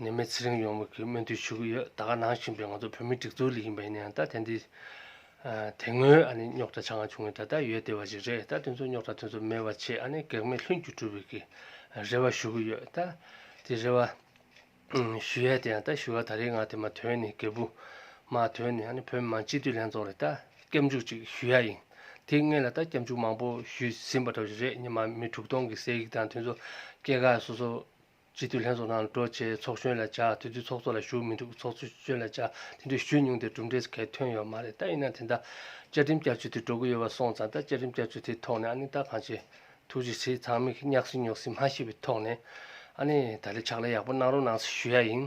ནད་མེད་ཚེ་རིང་ཡོང་བའི་སྨོན་འདུན་ཞུ་གི་ཡོད་ད་ག་ནང་བཞིན་པའི་ང་ཚོ་བོད་མི་སྒྲིག་འཛུགས་ལས་ཡིན་པ་ཡིན་ན་ཡང་ད་དེ་འདི་དེ་སྔོན་ཨ་ནི་རྙོག་དྲ་ཆ་ང་བྱུང་ཡོད་ད་ད་ཡོད་བདེ་བ་ཞིག་རེད་ད་དེ་ཚོ་རྙོག་དྲ་དེ་ཚོ་མེད་པ་ཆེད་ཨ་ནི་གེགས་མེད་ལྷུན་གྱིས་གྲུབ་པའི་གི་རེ་བ་ཞུ་གི་ཡོད་ད་དེ་རེ་བ་ཞུ་ཡས་དེ་ཡང་ད་ཞུ་བ་ད་རེའི་ང་དེ་མ་དོན་ནི་གེ་བུ་མ་དོན་ནི་ཨ་ནི་བོད་མི་མང་སྤྱི་འཐུས་ལྷན་ཚོགས་ལ་ད་སྐྱབས་འཇུག་ཅིག་ཞུ་ཡ་ཡིན་དེ་ངེད་ལ་ད་སྐྱབས་འཇུག་མང་པོ་ཞུས་ཟིན་པ་འདྲ་བ་ཞིག་རེད་ཉི་མ་མི་དྲུག་སྟོང་གི་སྲས་ཡིག་དང་དེ་ཚོ་སྐྱེ་རྒ་སོ་སོ་སྤྱི་འཐུས་ལྷན་ཚོགས་ནང་གྲོས་བྱས་ཚོགས་གཞོན་ལས་བྱ་དེ་དུས་ཚོགས་གཙོ་ལ་ཞུགས་མི་འདུག་ཚོགས་གཞོན་ལས་བྱ་དེ་དུས་ཞུས་མྱོང་དེ་གྲུབ་འབྲས་གལ་ཐོན་ཡོད་མ་རེད་ད་ཡིན་ན་དེ་འདྲ་བཅའ་ཁྲིམས་བསྐྱར་བཅོས་དེ་འགྲོ་གི་ཡོད་པ་སོང་ཙང་ད་བཅའ་ཁྲིམས་བསྐྱར་བཅོས་དེ་ཐོག་ནས་ཨ་ནི་ད་གང་བྱེད་ཐུགས་རྗེ་ཆེ་ཚང་མིག་གཉགས་སེ་ཉོག་སེ་མ་ཤེས་པའི་ཐོག་ནས་ཨ་ནི་ད་ལས་ཕྱག་ལས་ཡག་པོ་གནང་རོགས་གནང་ཞུ་ཡ་ཡིན།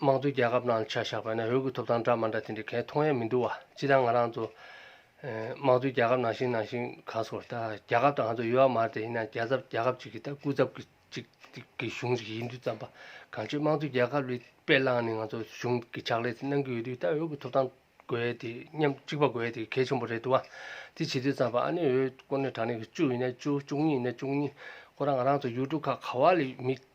དམངས་གཙོའི་རྒྱལ་ཁབ་ནང་ཆ་བཞག་པ་ནས་འོས་ཀྱི་ཐོབ་ཐང་འདྲ་མ་འདྲ་དེ་འདྲ་གས་མཐོང་ཡ་མི་འདུག་བ་སྤྱི་དང་ང་རང་ཚོ། དམངས་གཙོའི་རྒྱལ་ཁབ་ནང་བཞིན་ནང་བཞིན་ག་སོ་ད་རྒྱལ་ཁབ་དང་ང་ཚོ་ཡོད་བ་མ་རེད་ཡིན་ན་རྒྱལ་ཚབ་རྒྱལ་ཁབ་ཅིག་གི་ད་སྐུ་ཚབ་གི་ཅིག་གི་གཞུང་ཅིག་ཡིན་དུས་ཙམ་པ་གང་ཆོད་དམངས་གཙོའི་རྒྱལ་ཁབ་ལི་དཔེ་བླངས་ནས་ང་ཚོ་གཞུང་གི་ཕྱག་ལས་དེ་གནང་གི་ཡོད་དུས་ད་འོས་ཀྱི་ཐོབ་ཐང་དགོས་ཡ་དེ་སྙམ་གཅིག་པ་དགོས་ཡ་དེ་གལ་ཆེན་པོ་རེད་འདུག་བ་དེ་བྱེད་དུས་ཙམ་པ་ཨ་ནེ་འོས་དཀོན་ནས་དྲང་ནས་གི་བཅུ་ཡིན་ན་བཅུ་བཅུ་གཉིས་ཡིན་ན་བཅུ་གཉིས་ཁོ་རང་ང་རང་ཚོ་ཡུལ་གྲུ་ཁག་ག་བ་ལི་མི་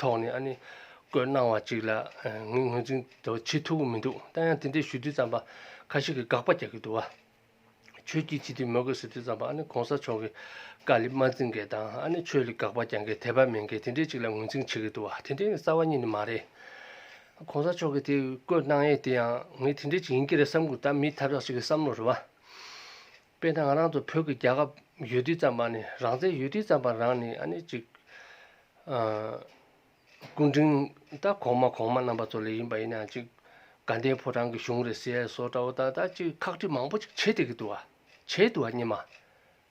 ཐོག་ནས་ཨ་ནི་བཀོད་གནང་བ་ཅིག་ལ་ངས་ངོས་འཛིན་དུ་བྱེད་ཐུབ་ཀྱི་མི་འདུག་ད་ཡང་དེ་འདྲའི་ཞུ་དུས་ཙམ་པ་ཁ་ཤས་ཀྱིས་དགག་པ་རྒྱག་གི་འདུག་བ། ཆོས་སྐྱིད་བྱེད་དུས་མོས་གུས་ཟེར་དུས་ཙམ་པ་ཨ་ནི་གོང་ས་མཆོག་གི་བཀའ་ལས་མ་འཛིན་མཁན་དང་ཨ་ནི་ཆོས་ལ་དགག་པ་རྒྱག་མཁན་དད་པ་མེད་མཁན་དེ་འདྲའི་ཅིག་ལ་ངོས་འཛིན་བྱེད་ཀྱི་འདུག་བ་དེ་འདྲའི་རྩ་བ་ཉིད་ནི་མ་རེད། གོང་ས་མཆོག་གིས་དེ་བཀོད་གནང་ཡས་དེ་ཡང་ངས་དེ་འདྲའི་ཅིག་ཡིན་གྱི་རེད་བསམ་གྱི་འདུག་ད་མིའི་ཐབས་ཤག་ཅིག་གི་བསམ་བློ་རེད་བ། དཔེར་ན་ང་རང་ཚོ་བོད་ཀྱི་རྒྱལ་ཁབ་ཡུལ་དུས་ཙམ་པ་ནི་རང་བཙན་ཡུལ་དུས་ཙམ་པ་རང་ནི་ཨ་ནི་ཅིག། སྐུ་འཕྲེང་ད་གོང་མ་གོང་མ་རྣམ་པ་ཚོ་ལས་ཡིན་པ་ཡིན་ན་ཅིག་དགའ་ལྡན་ཕོ་བྲང་གི་གཞུང་རེད་ཟེར་སོ་ཏྲ་བོ་ད་ད་ཅིག་ཁག་དཀྲི་མང་པོ་ཅིག་བྱེད་བསྡད་ཀྱི་འདུག་བ། བྱས་འདུག་བ་རྙེད་མ།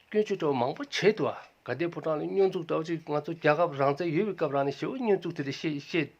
སྐྱོན་བརྗོད་ཏྲ་བོ་མང་པོ་བྱས་འདུག་བ་དགའ་ལྡན་ཕོ་བྲང་ལ་སྙོན་འཛུགས་ཏྲ་བོ་ཅིག་ང་ཚོ་རྒྱལ་ཁབ་རང་བཙན་ཡོད་པའི་སྐབས་རང་ནི་ཞེ་བོ་སྙོན་འཛུགས་དེ་རེད་བཤད་བཤད།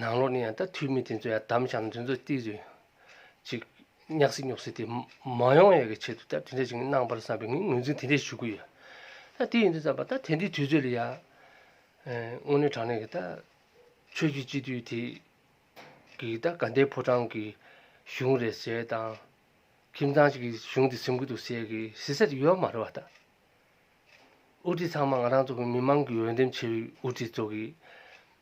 ནང་ལོགས་ནས་ཡང་ད་དུས་མི་དེ་ཚོ་ཡང་དམ་བཅའ་མཛོད་མཛོད་ཏིག་རེ་ཅིག་བསྙགས་སེ་སྙོགས་སེ་དེ་མ་ཡོང་ཡས་ཀྱི་ཆེད་དུ་ད་དེ་འདྲ་ཅིག་གནང་པར་བསམ་པའི་ངས་ངོས་འཛིན་དེ་འདྲས་ཞུ་གི་ཡོད། ད་དེ་ཡིན་དུ་བསམ་པ་ད་དེ་འདྲའི་དུས་ཚོད་ལ་ཡང་དངོས་གནས་དྲང་གནས་ཀྱི་ད་ཆོས་རྒྱུད་སྤྱི་འཐུས་དེ་གིས་ད་དགའ་ལྡན་ཕོ་བྲང་གི་གཞུང་རེད་ཟེར་དང། ཁྱིམ་ཚང་ཞིག་གི་གཞུང་དེ་སེམས་གུད་དུ་ཟེར་གི་ཟེར་ས་དེ་ཡོད་མ་རེད་བ་ད། དབུ་ཁྲིད་ཚང་མ་ང་རང་ཚོ་གི་མི་མང་གི་འོས་འདེམས་བྱས་པའི་དབུ་ཁྲིད་ཚོ་གིས་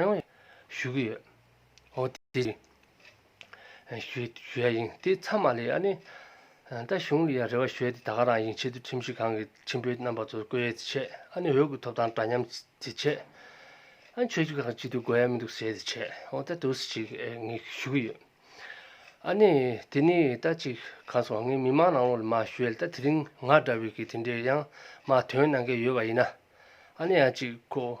ཡང་ཞུ་གི་ཡོད། འོ་དེ་ཡིན། ཞུ་ཞུ་ཡ་ཡིན། དེ་ཚང་མ་ལས་ཡ་ནི། ད་གཞུང་ལ་ཡ་རེ་བ་ཞུ་ཡ་དེ་ད་ག་རང་ཡིན་ཆེད་དུ་ཁྲིམས་ཞིབ་ཁང་གི་ཁྲིམས་དཔོན་རྣམ་པ་ཚོར་བསྐོས་ཡ་དེ་བྱས་ཨ་ནི་འོས་ཀྱི་ཐོབ་ཐང་འདྲ་མཉམ་དེ་བྱས། ཨ་ཆོས་ཞིབ་ཁང་ཅིག་ཏུ་དགོས་ཡ་མི་འདུག་ཟེར་དེ་བྱས་འོ་ད་དུས་སུ་ཅིག་ངས་ཞུ་གི་ཡོད། ཨ་ནི་དེ་ནི་ད་ཅིག་གང་སོང་ངས་མི་མང་ནང་ལོགས་ལ་མ་ཞུ་ཡ་ལ་ད་དེ་རིང་ང་འདྲ་བའི་གི་དེ་འདྲའི་ཡང་མ་དོན་གནང་མཁན་ཡོད་པ་ཡིན་ན་ཨ་ནི་ཡང་ཅིག་ཁོ་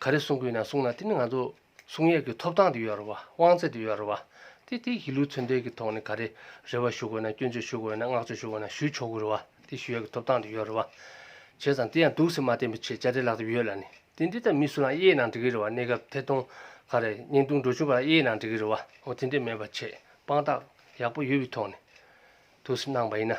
ག་རེ་གསུང་དགོས་ན་གསུང་ན་དེ་ནི་ང་ཚོ་གསུང་ཡས་ཀྱི་ཐོབ་ཐང་དུ་ཡོད་རེད་བ་དབང་ཚད་དུ་ཡོད་རེད་བ། དེ་དེ་གཞིས་ལུས་མཚོན་འབྲེལ་གྱི་ཐོག་ནས་ག་རེ་རེ་བ་ཞུ་དགོས་ན་སྐྱོན་བརྗོད་ཞུ་དགོས་ན་བསྔགས་བརྗོད་ཞུ་དགོས་ན་ཞུས་ཆོག་གི་རེད་བ་དེ་ཞུ་ཡས་ཀྱི་ཐོབ་ཐང་དུ་ཡོད་རེད་བ། བྱས་ཙང་དེ་ཡང་སྡུག་སེམས་མ་བསྟེན་པའི་ཆེད་བཅར་འདྲི་ལག་དེབ་ཡོད་ལ་ནི་དེ་འདི་ལྟར་མི་སུ་རང་དབྱེའི་ནང་འབྲི་གི་རེད་བ་གནས་སྐབས་ཐད་གཏོང་ག་རེ་བརྙན་ཐུང་འགྲོ་ཆུང་ག་རེ་དབྱེའི་ནང་འབྲི་གི་རེད་བ་འོ་དེ་འདྲས་མེད་པ་ཆེད་དཔང་རྟགས་ཡག་པོ་ཡོད་པའི་ཐོག་ནས་དུ་གནང་བ་ཡིན་ན།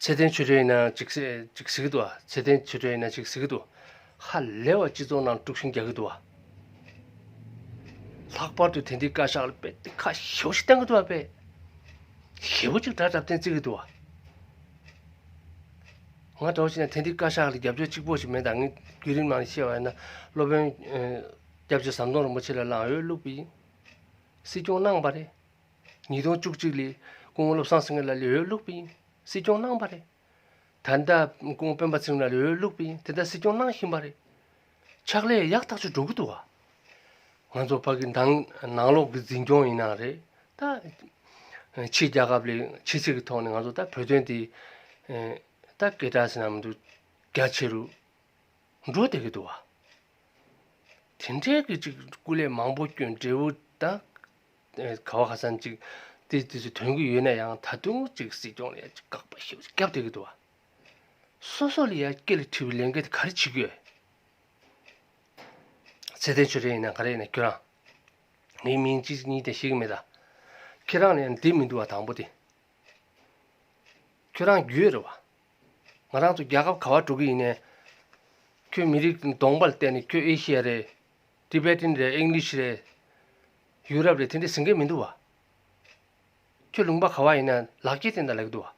ཚེ་བརྟན་ཆོས་སྒྲོན་ཡིན་ན་ཅིག་གཟིགས་འདུག་ཚེ་བརྟན་ཆོས་སྒྲོན་ཡིན་ན་ཅིག་གཟིགས་འདུག་ཧ་ལས་བ་སྤྱི་ཚོགས་ནང་དཀྲུགས་ཤིང་རྒྱག་གི་འདུག་བ། ལྷག་པར་དུ་དེ་འདྲའི་བཀའ་ཤག་ལ་དཔེ་དེབ་ཁ་ཤས་བོ་ཞིག་བསྟན་གི་འདུག་བ་དཔེ་ཞེ་བོ་གཅིག་དྲ་གྲབས་སྟེང་བརྩིགས་གི་འདུག་བ། ང་འདྲ་བོ་ཞིག་ན་དེ་འདྲའི་བཀའ་ཤག་ལ་རྒྱབ་སྐྱོར་གཅིག་པོ་ཞིག་མེད་ད་ངས་བརྒྱུད་རིམ་ནང་ཤེས་བ་ཡིན་ན་སློབ་དཔོན་སྐྱབས་རྗེ་ཟམ་གདོང་རིན་པོ་ཆེ་ལ་ལངས་ཡོད་ལུགས་པའི་སྲིད་སྐྱོང་གནང་བ་རེད། ཉིས་སྟོང་བཅུ་གཅིག་ལོའི་ཀོང་བློ་བཟང་སེང་གེ་ལ་ལོའི་སློབ་དཔོན་སྲིད་སྐྱོང་གནང་བ་རེད། ད་ལྟ་ཀོང་སྤེན་པ་ཚེ་རིང་ལ་ལོའི་སློབ་དཔོན་དེ་ལྟར་སྲིད་སྐྱོང་གནང་བཞིན་པ་རེད། ཕྱག་ལས་ཡག་ཐག་ཆོད་འགྲོ་གི་འདུག་བ། ང་ཚོ་ཕ་གི་མདང་ནང་ལོག་གི་འཛིན་སྐྱོང་ཡིན་ན་རེད་ད། ཕྱི་རྒྱལ་ཁབ་ལས་ཕྱི་ཚིག་གི་ཐོག་ནས་ང་ཚོ་ད་བོད་དོན་འདི་ད་སྐད་གྲགས་ཟིན་ན་མི་འདུག་རྒྱ་ཆེ་རུ་འགྲོ་བསྡད་ཀྱི་འདུག་བ། དེ་འདྲའི་གི་ཅིག་སྐུ་ལས་མང་པོ་སྐྱོན་འབྲས་བུ་ད། ག་བ་ཁ་སང་ཅིག་དེ་དུས་སུ་དོན་གྱི་ཡོད་ན་ཡང་ད་དུང་ཅིག་སྲིད་སྐྱོང་ལ་ཡ་ཅིག་བཀག་པ་ཞིག་བརྒྱབ་སྡོད་ཀྱི་འདུག་བ། སོ་སོ་ལ་ཡ་སྐད་ལ་འཁྲི་བའི་ལས་འགན་དེ་ག་རེ་བྱེད་དགོས། ཚེ་བརྟན་ཆོས་རེན་ཡིན་ན་ག་རེ་ཡིན་ན་ཁྱོད་རང། ངའི་མིང་ཅི་ཞིག་ཡིན་ཀྱང་ཤེས་ཀྱི་མེད་ད། ཁྱེད་རང་ལ་ཡང་བདེ་མི་འདུག་བ་དང་པོ་དེ། ཁྱོད་རང་རྒྱུས་རེད་བ། ང་རང་ཚོ་རྒྱལ་ཁབ་ག་བ་འགྲོ་གི་ཡིན་ནས། ཁྱོད་མི་རིགས་གདོང་པ་ལ་བལྟས་ནས་ཁྱོད་ཨེ་ཤི་ཡ་རེད། Tibetan རེད English རེད། ཡུལ་རབས་རེད་དེ་འདྲས་ཟིན་མཁན་མི་འདུག་བ། ཁྱོད་ལུང་པ་ག་བ་ཡིན་ན་ལག་སྐྱེས་སྟེན་ད་ལས་ཀྱི་འདུག་བ།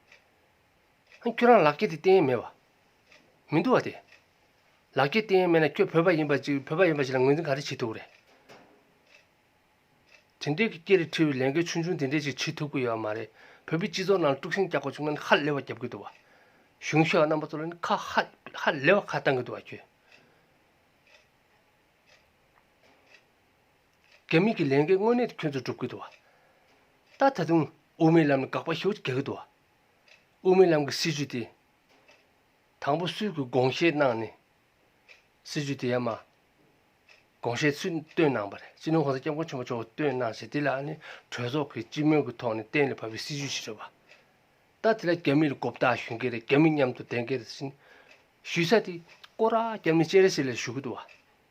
ཧན་ཁྱོད་རང་ལག་སྐྱེས་དེ་སྟེན་ཡས་མེད་བ། མི་འདུག་བ་དེ། ལག་སྐྱེས་སྟེན་ཡས་མེད་ན་ཁྱོད་བོད་པ་ཡིན་པ་ཅིག་བོད་པ་ཡིན་པ་ཞིག་ལ་ངོས་འཛིན་ག་རེ་བྱེད་ཐུབ་རེད། དེ་འདྲས་ཀྱི་སྐྱེ་རི་ཁྲི་བའི་ལས་འགན་ཆུང་ཆུང་དེ་འདྲས་ཞིག་བྱེད་ཐུབ་ཀྱི་ཡོད་བ་མ་རེད་བོད་པའི་སྤྱི་ཚོགས་ནང་ལ་དཀྲུག་ཤིང་རྒྱག་པ་བྱུང་ན་ནི་ཧ་ལས་བ་རྒྱབ་ཀྱི་འདུག་བ། གཞུང་ཞེས་བ་རྣམ་པ་ཚོ་ལ་ནི་ཁ་ཧཧ་ལས་བ་ཁ་བཏང་གྱི་འདུག་བ་ཁྱོད། དགེ་མི་གི་ལས་འགན་དངོས་གནས་ཁྱོད་ཚོས་སྒྲུབ་གི་འདུག་བ། ད་ད་དུང་དབུ་མའི་ལམ་ལ་དགག་པ་ཞུ་གི་འདུག་བ། དབུ་མའི་ལམ་གི་སྲིད་བྱུས་དེ། དང་པོ་སུས་གི་དགོངས་བཞེས་གནང་ནས། སྲིད་བྱུས་དེ་ཡ་མ། དགོངས་བཞེས་སུས་བཏོན་གནང་བ་རེད་སྤྱི་ནོར་ཧོར་ཟླ་སྐྱབས་མགོན་ཆེན་པོ་མཆོག་བཏོན་གནང་ཞེས་དེ་ལ་ནི་གྲོས་ཚོགས་ཀྱི་སྤྱི་མོས་ཀྱི་ཐོག་ནས་གཏན་ལ་ཕབ་པའི་སྲིད་བྱུས་ཤིག་རེད་བ། ད་དེ་ལ་རྒྱ་མི་ལ་རྒོབ་རྟགས་ཞུ་མཁན་རེད་རྒྱ་མི་མཉམ་དུ་བསྡད་མཁན་རེད་བཞིན། ཞུས་ས་དེ་ཀོ་ར་རྒྱབ་ནས་སྤྱན་རས་གཟིགས་ལ་ཞུ་གི་འདུག་བ།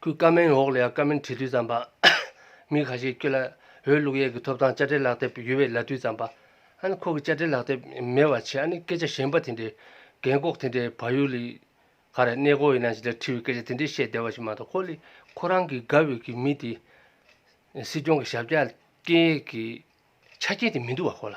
ཁུལ་ཀ་མེན་ཝོག་ལེའ་ཀ་མེན་བྲིས་དུས་བརྩམས་པ། མི་ཁ་ཤས་སྐྱུ་ལ་འོས་བླུགས་ཡས་ཀྱི་ཐོབ་ཐང་དཔྱ་ཁྲལ་ལག་དེབ་ཡུལ་བའི་ལ་དུས་བརྩམས་པ། ཨ་ནི་ཁོ་གི་དཔྱ་ཁྲལ་ལག་དེབ་མེད་བ་ཆེ་ཨ་ནི་སྐད་ཆ་གཞན་པ་དེ་འདྲའི་རྒན་ལྐོག་དེ་འདྲའི་བ་ཡུ་ལི་ག་རེ་གནས་སྐོར་ཡིན་ན་ཞིག་ལ་འཁྲི་བའི་སྐད་ཆ་དེ་འདྲའི་བཤད་བདེ་བ་ཞིག་མ་གཏོགས་ཁོ་ལི་ཁོ་རང་གི་དགའ་འོས་ཀྱི་མི་དེ་སྲིད་སྐྱོང་གི་ཞབས་བཅག་རྐྱེན་ཡས་ཀྱི་ཆ་རྐྱེན་དེ་མི་འདུག་བ་ཁོ་ལ།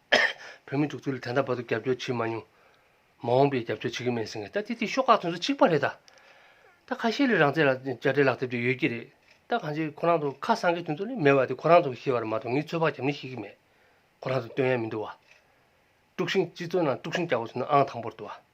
བོད་མི་འཇུག་ཚུལ་ལ་དེ་འདྲ་བར་དུ་རྒྱབ་སྐྱོར་བྱེད་མ་མྱོང། མ་འོངས་པའི་རྒྱབ་སྐྱོར་བྱེད་ཀྱི་མེད་ཟེར་མཁན་ད་དེ་དེའི་ཤོག་ཁག་ཚོན་ཚོད་གཅིག་པ་རེད་ད། ད་ཁ་ཤས་ལས་རང་བཙན་ལ་དཔྱ་ཁྲལ་ལག་དེབ་ཅིག་ཡོད་ཀྱི་རེད་ད་གང་ཅིའི་ཁོ་རང་ཚོ་ཁ་སང་གི་དུས་ཚོད་ནི་མེད་པ་དེ་ཁོ་རང་ཚོ་གི་ཤེས་པ་རེད་མ་གཏོགས་ངས་ཚོད་དཔག་བྱ་མི་ཤེས་ཀྱི་མེད་ཁོ་རང་ཚོ་སྟོན་ཡ་མི་འདུག་བ། དཀྲུགས་ཤིང་སྤྱི་ཚོགས་ནང་དཀྲུགས་ཤིང་རྒྱག་པ་ཚོ་ནི་ཨང་དང་པོར་འདུག་བ།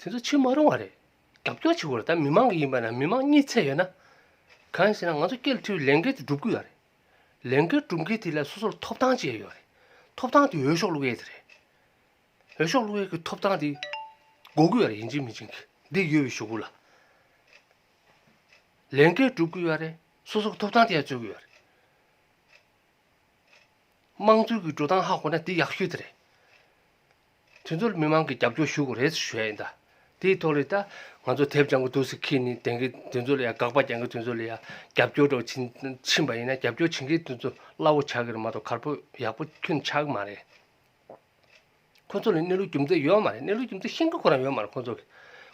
དེ་ཚོ་ཕྱིར་མ་རུང་བ་རེད། རྒྱབ་སྐྱོར་བྱེད་དགོས་ལ་ད་མི་མང་གི་ཡིན་པ་ན་མི་མང་གཉིས་ཚད་ཡོད་ན། གང་ཞེ་ན་ང་ཚོ་སྐྱེལ་འཁྲིའི་ལས་འགན་དེ་སྒྲུབ་དགོས་ཡ་རེད། ལས་འགན་སྒྲུབ་མཁན་དེ་ལ་སོ་སོར་ཐོབ་ཐང་ཅེས་ཡོད་རེད། ཐོབ་ཐང་དེ་འོས་ཤོག་བླུག་ཡས་དེ་རེད། འོས་ཤོག་བླུག་ཡས་ཀྱི་ཐོབ་ཐང་དེ་འགོག་དགོས་ཡ་རེད་ཡིན་ཅིང་མིན་ཅིང་གི་འདི་ཡོད་པའི་ཞོག་གུ་ལ། ལས་འགན་སྒྲུབ་དགོས་ཡ་རེད་སོ་སོར་ཐོབ་ཐང་དེ་ཡང་རྩོད་དགོས་ཡ་རེད། དམངས་གཙོའི་གི་འགྲོ་སྟངས་ཧ་གོ་ན་དེ་ཡག་ཤོས་དེ་རེད། དེ་ཚོར་མི་མང་གི་རྒྱབ་སྐྱོར་ཞུ་དགོས་རེད་ཟེར་ཞོད་ཡིན་ད། དེའི་ཐོག་ལས་ད་ང་ཚོ་དེབ་སྦྱང་གི་འདུག་ཟེར་ཁྱེད་ནི་དེང་གི་དེ་ཚོ་ལ་ཡང་དགག་པ་རྒྱག་མཁན་དེ་ཚོ་ལ་ཡང་རྒྱབ་སྐྱོར་འགྲོ་ཕྱིན་ཕྱིན་པ་ཡིན་ན་རྒྱབ་སྐྱོར་བྱེད་མཁན་དེ་ཚོ་སླ་བོ་ཆགས་གི་རེད་མ་གཏོགས་གར་པོ་ཡག་པོ་ཐོན་ཆགས་གི་མ་རེད། ཁོ་ཚོ་ལ་གནས་ལུགས་རྒྱུ་མཚན་ཡོད་མ་རེད་གནས་ལུགས་རྒྱུ་མཚན་ཤེས་མཁན་ཁོ་རང་ཡོད་མ་རེད་ཁོ་ཚོ་གི།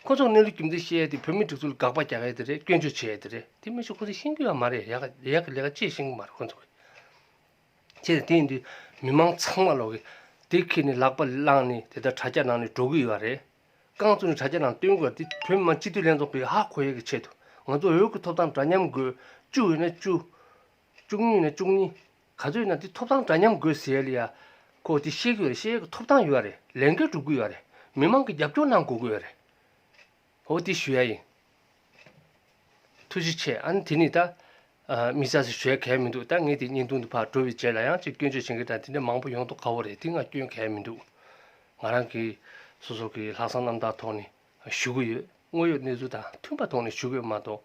ཁོ་ཚོ་གི་གནས་ལུགས་རྒྱུ་མཚན་ཤེས་ཡས་དེ་བོད་མི་སྒྲིག་འཛུགས་ལ་དགག་པ་རྒྱག་ཡས་དེ་རེད་སྐྱོན་བརྗོད་བྱེད་ཡས་དེ་རེད་དེ་མི་ཆོག་ཁོ་ཚོ་ཤེས་ཀྱི་ཡོད་མ་རེད་ཡག་གི་ལས་ཀ་ཅི་ཤེས་ཀྱི་མ་རེད་ཁོ་ཚོ་གི། ཁྱེད་ཀྱི་དེ་འདུག་མི་དམངས་ཚང་མ་ལོག་གི། དེ་ཁྱེད་ནས་ལག་པ་བླངས་ནས་དེ་ལྟར་དྲ་རྒྱ་ནང་ནས་འགྲོ་གི་ཡོད་པ་རེད། རྐང་བཙུགས་ནས་དྲ་རྒྱ་ནང་སྟོན་དགོས་པ་དེ་བོད་མི་མང་སྤྱི་འཐུས་ལྷན་ཚོགས་པའི་ཧ་གོ་ཡས་ཀྱི་ཆེད་དུ། ང་ཚོ་འོས་ཀྱི་ཐོབ་ཐང་འདྲ་མཉམ་དགོས། བཅུ་ཡོད་ན་བཅུ། བཅུ་གཉིས་ཡོད་ན་བཅུ་གཉིས། ག་ཚོད་ཡོད་ན་དེ་ཐོབ་ཐང་འདྲ་མཉམ་དགོས་ཟེར་ཡ་ལེ་ཡ། ཁོ་དེ་ཤེས་ཀྱི་ཡོད་རེད་ཤེས་ཡས་ཀྱི་ཐོབ་ཐང་ཡོད་རེད་ལས་འགན་སྒྲུབ་ཀྱི་ཡོད་རེད་མི་དམངས་ཀྱི་རྒྱབ་སྐྱོར་གནང་དགོས་ཀྱི་ཡོད་རེད། ཧོ་དེ་ཞུ་ཡ་ཡིན། ཐུགས་རྗེ་ཆེ་ཨ་ནི་དེ་ནི་ད། མི་ཚ་ཚ་བྱོས་གལ་མི་འདུག་ད་ངས་དེ་བརྙན་ཐུང་དུ་ཕར་འགྲོ་བའི་རྗེས་ལ་ཡང་ཅིག་སྐྱོན་བརྗོད་བྱེད་མཁན་དང་དེ་འདྲ་མང་པོ་ཡོང་དོག་ཁ་བོ་རེད་དེ་ང་སྐྱོན་གལ་མི་འདུག། ང་རང་གིས་སོ་སོ་གི་ལྷག་བསམ་རྣམ་དག་ཐོག་ནས་ཞུ་གི་ཡོད་དངོས་ཡོད་གནས་ཚུལ་དང་མཐུན་པ་ཐོག་ནས་ཞུ་གི་ཡོད་མ་གཏོགས།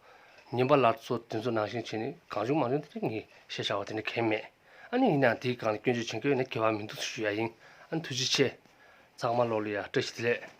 ཉན་པ་ལར་ཚོ་དེ་ཚོ་ནང་བཞིན་བྱས་ནས་གང་བྱུང་མང་བྱུང་དེ་འདྲ་ངས་བཤད་བྱ་བ་དེ་འདྲ་གལ་མེད། ཨ་ནི་ཡིན་ནའང་དེའི་སྒང་ལ་སྐྱོན་བརྗོད་བྱེད་མཁན་ཡོད་ན་གལ་བ་མི་འདུག་ཞུ་ཡ་ཡིན་ཨ་ནི་ཐུགས་རྗེ་ཆེ། ཚང་མ་བློ་ལ་ཡ་བཀྲ་ཤིས་བདེ་ལེགས།